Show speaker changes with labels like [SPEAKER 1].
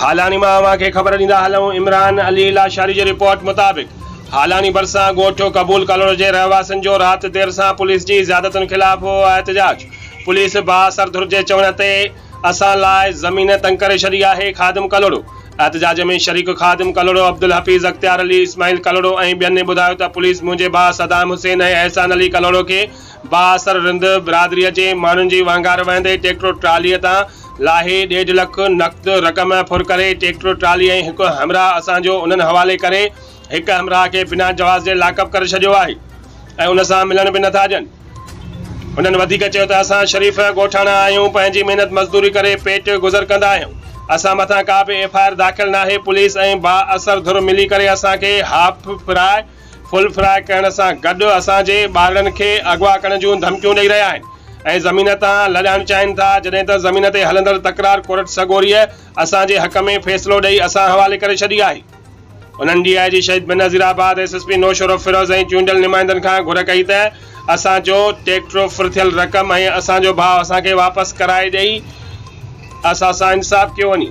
[SPEAKER 1] هالاڻي مان اوهان کي خبر ڏيندا هلون عمران علي لاشاري جي رپورٽ مطابق هالاڻي ڀرسان ڳوٺ قبول ڪالونو جي رهواسين جو رات دير سان پوليس جي زيادتين خلاف هو احتجاج پوليس بااثر ڌر جي چوڻ تي اسان لاء زمين تنگ ڪري ڇڏي آهي، خادم ڪلهوڙو. احتجاج ۾ شريڪ خادم ڪلهوڙو، عبدالحفيظ، اختيار علي، اسماعيل ڪلهوڙو ۽ ٻين ٻڌايو ته پوليس منهنجي ڀاء صدام حسين ۽ احسان علي ڪلهوڙو کي بااثر رند برادري جي ماڻهن جي وهنگار وهندي ٽيڪٽر ٽرالي تان لاهي ڏيڍ لک نقد رقم ڦر ڪري ٽيڪٽر ٽرالي ۽ هڪ همراهه اسان جو انهن حوالي ڪري هڪ همراهه کي بنا جواز جي لاڪ اپ ڪري ڇڏيو آهي ۽ ان سان ملڻ به نٿا ڏين. هنن وڌيڪ چيو ته اسان شريف ڳوٺاڻا آهيون، پنهنجي محنت مزدوري ڪري پيٽ گذر ڪندا آهيون، اسان مٿان ڪا به ايف آء آر داخل ناهي، پوليس ۽ بااثر ڌر ملي ڪري اسان کي هاف فراء فل فراء ڪرڻ سان گڏ اسان جي ٻارڙن کي اغوا ڪرڻ جون ڌمڪيون ڏئي رهيا آهن ۽ زمين تان لڏائڻ چاهين ٿا، جڏهن ته زمين تي هلندڙ تڪرار ڪورٽ سڳوريء اسان جي حق ۾ فيصلو ڏئي اسان حوالي ڪري ڇڏي آهي. انهن D I G Shaheed Benazirabad, S S P Naushahro Feroze ۽ چونڊيل نمائندن کان گهر ڪئي ته اسان جو ٽيڪٽروفرٿيل رقم ۽ اسان جو ڀاء اسان کي واپس ڪرائي ڏئي اسان سان انصاف ڪيو وڃي.